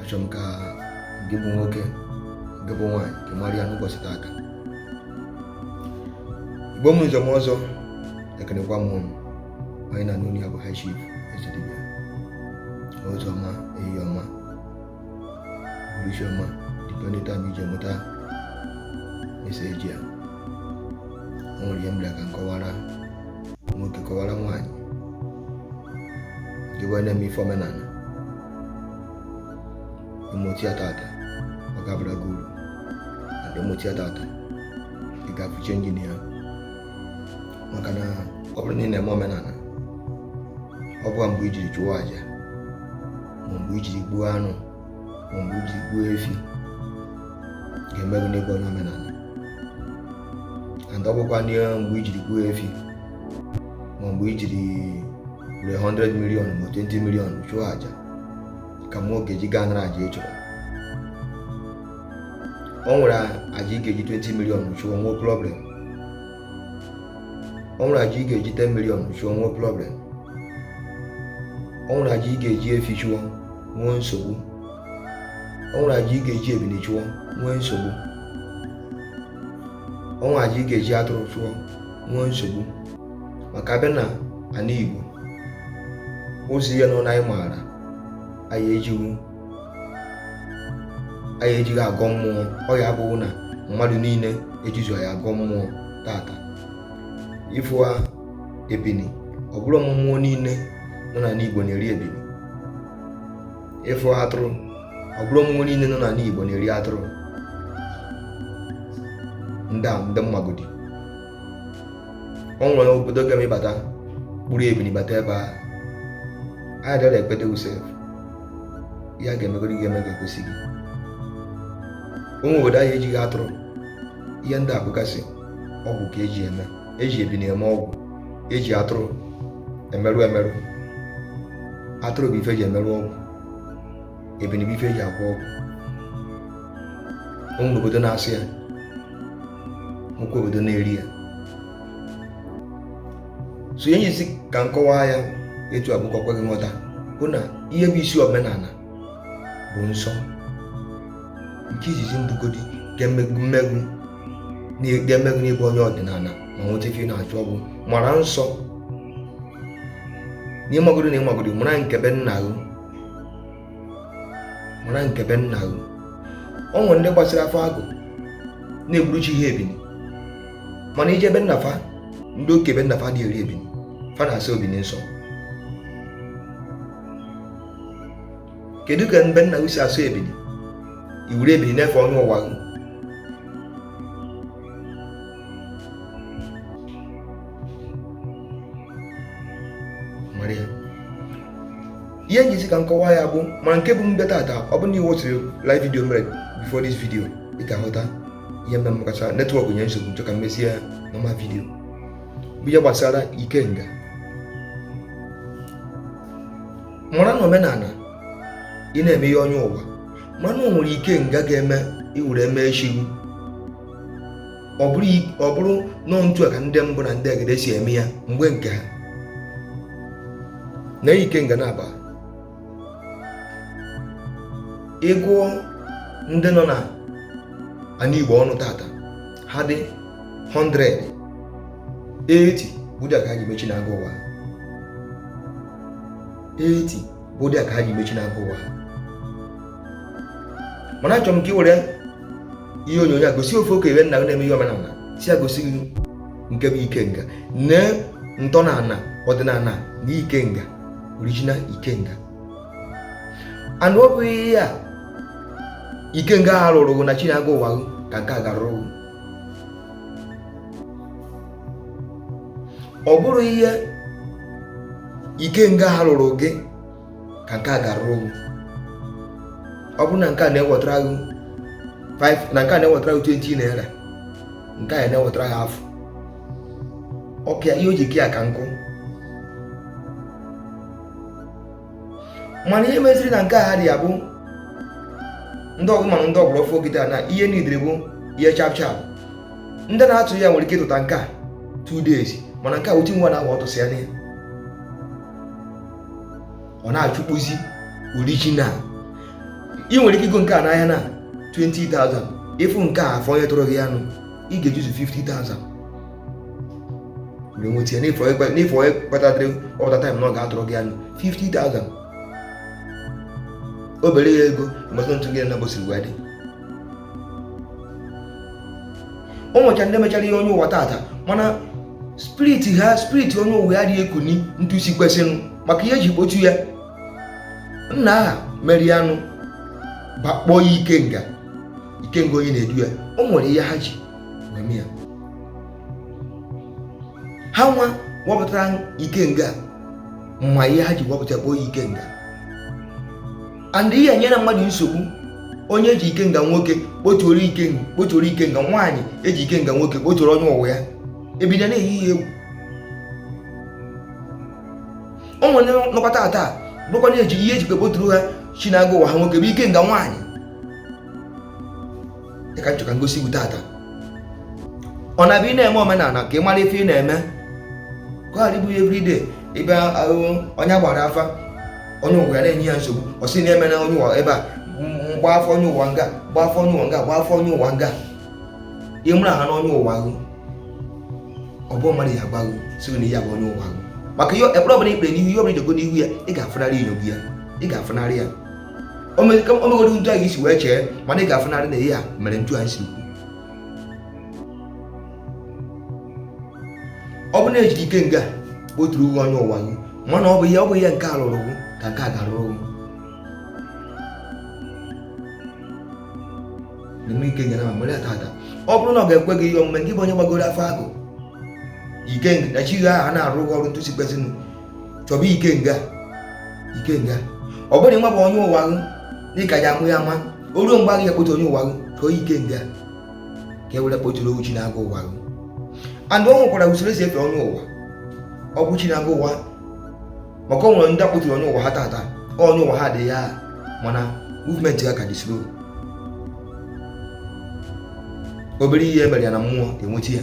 achọrọ m ka gị bụ nwoke gị bụ nwaanyị gị mara ya n'ụbọchị taata igbo m njem ọzọ ekenekwa m ụnụ onye a na-anụ olu ya bụ high chief ezedibia ozi ọma ehihie ọma anyasị ọma depending time i ji enweta message a o nwere ihe m bịara ka m kọwara nwoke kọwara nwaanyị gị wee na-eme ife omenala ị mụta ya tata ọ ga-abara gị uru and ị mụta ya tata ị ga-afụ change na ya maka na ọ bụrụ na ị na-eme omenala ọ bụkwa mgbe i jiri chụọ aja ma mgbe i jiri gbuo anụ ma mgbe i jiri gbuo efi ga-eme gị n'ịbụ onye omenala and ọ bụkwa n'ihe mgbe i jiri gbuo efi ma mgbe i jiri were 100 million ma 20 million chụọ aja ka mmụọ ga-eji gaa nara aja ị chọrọ o nwere aja ị ga-eji 20 million chụọ nwee problem o nwere aja ị ga-eji 10 million chụọ nwee problem o nwere aja ị ga-eji efi chụọ nwee nsogbu o nwere aja ị ga-eji ebili chụọ nwee nsogbu o nwere aja ị ga-eji atụrụ chụọ nwee nsogbu maka a bịa n'ana Igbo ụdị anụ anyị maara anyị ejighị anyị ejighị agọ mmụọ ọ ya abụghị na mmadụ niile ejizu anyị agọ mmụọ tata ị fụọ ebini ọ bụrọ mmụọ niile nọ n'ala Igbo na-eri ebini ị fụ atụrụ ọ bụrọ ụmụ mmụọ niile nọ n'ala Igbo na-eri atụrụ ndị a ndị m magodi o nwere obodo ga-eme ị bata kpụrụ ebili bata ebe a anyị dara ekpede usef ya ga-emegodi ga-eme ga-egosi gị o nwe obodo anyị ejighị atụrụ ihe ndị a bụgasị ọgwụ ka eji eme eji ebini eme ọgwụ eji atụrụ emerụ emerụ atụrụ bụ ife eji emerụ ọgwụ ebini bụ ife eji agwọ ọgwụ o nwe obodo na-asọ ya nwekwa obodo na-eri ya so ihe m ji sị ka m kọwaa ya etu a bụ ka o kwe gị nghọta bụ na ihe bụ isi omenala bụ nsọ nke izizi mbụ godi ga-eme gị eme gị ga-eme gị na ị bụ onye ọdịnala ma nweta ife ị na-achọ ọ bụ ịmara nsọ n'ịmagodo na ịmagodo mara nke be nna gị mara nke be nna gị o nwere ndị gbasara afa gaa na-egburu chi ya ebini mana i jee be nna fa ndị oke be nna fa adị eri ebini fa na-asọ ebini nsọ kedu ka be nna gị si asụ ebili i were ebili na-efe onye ụwa gị ihe m jizi ka nkọwa ya bụ ma nke bụ mbe tata ọ bụ na i watchiri live video mere before this video ị ga-ahụta ihe mbe makacha network nye nsogbu chọ ka m mezie ya normal video bụ ihe gbasara ikenga mara na omenala ị na-eme ihe onye ụwa mara na o nwere ikenga ga-eme i were mee chi gị ọ bụrụ i- ọ bụrụ nọọ ntu a ka ndị mbụ na ndị egede si eme ya mgbe nke ha na ikenga na-agba ị gụọ ndị nọ na ana igbo ọnụ tata ha dị 100 80 bụ ụdị a ka ha ji mee chi na agụ ụwa 80 bụ ụdị a ka ha ji mee chi na agụ ụwa mana achọrọ m ka ị were ihe onyonyo a gosi ofu okenye nna gị na-eme ihe omenala sị ya gosi gị nke bụ ikenga nee ntọala ọdịnala na ikenga original ikenga ana ọ bụghị ihe a ikenga ha rụrụ na chi na agụ ụwa ka nke a ga-arụrụ ọ bụrụ ihe ikenga ha rụrụ gị ka nke a ga-arụrụ ọ bụrụ na nke a na-ewetara gị na nke a na-ewetara gị 20 naira nke a na-ewetara gị afọ ọka ihe o ji ke ya ka nkụ mana ihe meziri na nke a ha dị ya bụ ndị ọgụ mana ndị ọgbọrọ fogide na ihe nidere bụ ihe sharp sharp ndị na-atụ ya nwere ike ịtụta nke a 2 days mana nke a otu ọnwa na-agba ọtụsị ya n'ihe ọ na-achụkpụzi original ị nwere ike igo nke a n'ahịa na 20,000 ị fụ nke a afọ onye tụrụ gị anụ ị ga-ejizu 50,000 mgbe nweta ya n'efu onye kpatatịrị ọpụta time na ọ ga-atụrụ gị anụ 50,000 obere ya ego mgbasa ntụ gị na bosiri wee dị o nwecha ndị mechara ihe onye ụwa tata mana spirit ha spirit onye ụwa ya adị ekuni ntu o si kwesịrị maka ihe e ji kpọtụ ya nna aha merie anụ ba kpọọ ya ikenga ikenga onye na-edu ya o nwere ihe ha ji wee ya ha nwa wepụtara ikenga ma ihe ha ji wepụta kpọọ ya ikenga and ihe nyere mmadụ nsogbu onye ji ikenga nwoke kpotuoro ikenga kpotuoro ikenga nwaanyị eji ikenga nwoke kpotuoro onye ụwa ya ebido na-eyi ya egwu o nwere nọkọta taa bụkwa na-eji ihe eji kpoturu ha chi na-aga ụwa ha nwoke bụ ikenga nwaanyị ya ka nchọka ngosi bụ tata ọ na-abịa ị na-eme omenala ka ị mara ife ị na-eme ka ọ dịbụghị everyday ịbịa ahụ onye gbara afa onye ụwa ya na-enye ya nsogbu ọ sị na-eme na onye ụwa ebe a mgba afọ onye ụwa nga gba afọ onye ụwa nga gba afọ onye ụwa nga ịmụrụ ha n'onye ụwa ahụ ọ bụ mmadụ ya agbaghị si na ya bụ onye ụwa ahụ maka ihe ekpere ọbụla ikpere n'ihu ihe ọbụla idogo n'ihu ya ị ga-afụnarị inyo gị ya ị ga-afụnarị ya o megoro ntu anyị isi wee chee mana ị ga-afụnarị na ihe a mere ntu anyị si ọ bụ na e jiri ikenga kpoturu uwe onye ụwa gị mana ọ bụ ihe ọ bụ ihe nke a lụrụ gị ka nke a gara ụgwụ na-eme ike nyere ma mere ata ata ọ bụrụ na ọ ga-ekwe gị ihe omume gị bụ onye gbagoro afa agụ ike na chi gị ahụ a na-arụ ụgwọ ọrụ ntu isi kpezinụ chọba ikenga ikenga ọ bụrụ nwa bụ onye ụwa gị dịka ya amụ ya ma o ruo mgbe a ga-eji kpote onye ụwa gị chọọ ikenga ka e were kpoturu owu chi na-aga ụwa gị and ọ nwekwara usoro esi efe onye ụwa ọ bụ chi na-aga ụwa maka ọ nwere ndị e kpoturu onye ụwa ha tata onye ụwa ha dị ya mana movement ha ka dị slow obere ihe e mere ya na mmụọ enwechi ya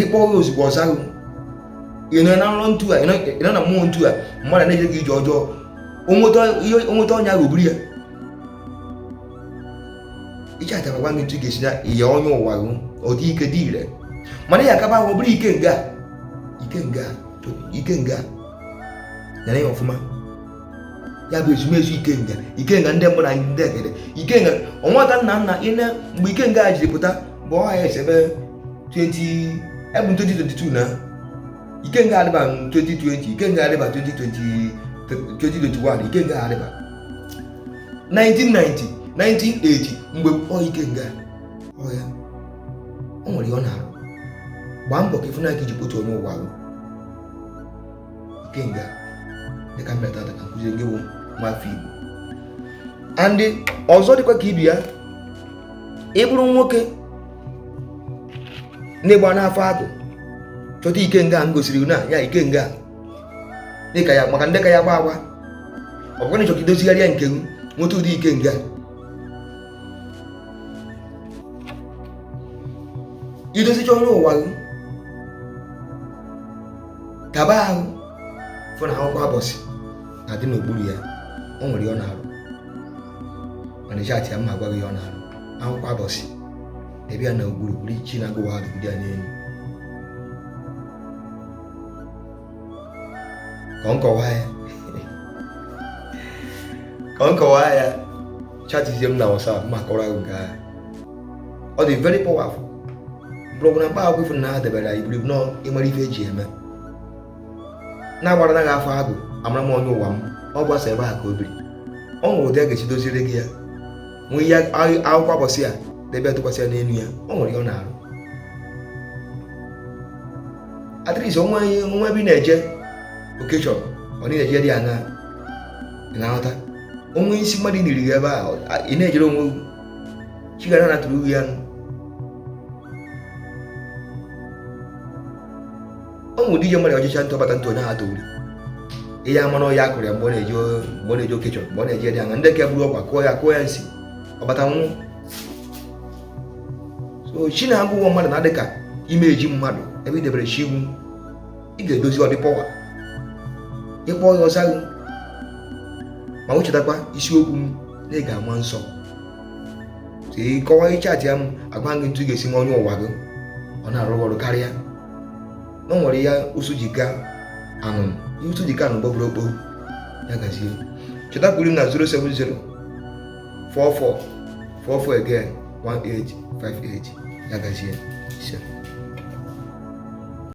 ị kpọ gị ozugbo ọ za gị ị nọ na nrọ ntu a ị nọ na mmụọ ntu a mmadụ na-eje gị ije ọjọọ o nweta ọnya ahụ buru ya ije atara gwa gị ntu ị ga-esi na ihe onye ụwa gị ọ dị ike dị ire mana ya akaba ahụ bụrụ ikenga ikenga ikenga nere ya ọfụma ya bụ ezumezu ikenga ikenga ndị mbụ na ndị egede ikenga ọnwata nna nna ịna mgbe ikenga a jiri pụta bụ ọha ya esebe 20 ebụ 2022 na ikenga adịba 2020 ikenga adịba 2020 2021 ikenga adịba 1990 1980 mgbe ọ ikenga ọ ya o nwere ihe ọ na-arụ gbaa mbọ ka ị fụ na ya ka i ji kpotu onye ụwa ahụ kenga dịka m bịa tata ka m kụzie gị bụ nwa afọ igbo na ndị ọzọ dịkwa ka ibi ya ị bụrụ nwoke na-egba n'afa agwụ chọta ikenga m gosiri na ya ikenga dịka ya maka ndị ka ya gba agba ọ bụrụ na ị chọka idozigharịa nke m nweta ụdị ikenga i dozicha onye ụwa gị kaba ahụ fụ na akwụkwọ abọsị na-adị n'okpuru ya o nwere ihe ọ na-arụ mana ị chaatịa m m agwa gị ihe ọ na-arụ akwụkwọ abọsị debe ya n'okpuru buru chi na agwụ ahụ dị ya n'elu ka m kọwaa ya ka m kọwaa ya chatizie m na WhatsApp m akọrọ gị nke ahụ ọ dị very powerful mkpọrọgwụ na mkpa akwụkwọ ị fụrụ na ha debere ya i buru nọọ ị mara ife eji eme na-agbara naghị afa agwụ amara m onye ụwa m ọ bụ ebe a ka o biri ọ nwere ụdị a ga-esi doziri gị ya nwee ihe akwụkwọ abọsị ya debe tụkwasị ya n'elu ya ọ nwere ihe ọ na-arụ at least o nwe ebe ị na-eje okechọ ọ na-eje dị ya na nghọta onwe isi mmadụ niri gị ebe a ị na-ejere onwe chigara na tụrụ uwe ya nụ ọ nwụ dije mmadụ ọjịcha ntụ ọ bata nwụọ onye ha tụrụ ihe ama na ọya kụrụ ya mgbe ọ na-eje mgbe ọ na-eje okechọ mgbe ọ na-eje dị anya ndị ka buru ọgwụ kọọ ya kọọ ya nsi ọ bata nwụọ so chi na agwụ mmadụ na-adị ka ime eji mmadụ ebe i debere chi iwu ị ga-edozi ọ dị power ị kpọọ ya ọ za gị ma wechetakwa isiokwu m na ị ga-ama nsọ ịkọwa ị chatịa m agwa gị etu ị ga-esi me onye ụwa gị ọ na-arụ ọrụ karịa na o nwere ihe ụsụ ji ka anụ ihe ụsụ ji ka anụ gbọgburu okporo ya gazie chọtakwuru m na 070 44 44 again 1858 ya gazie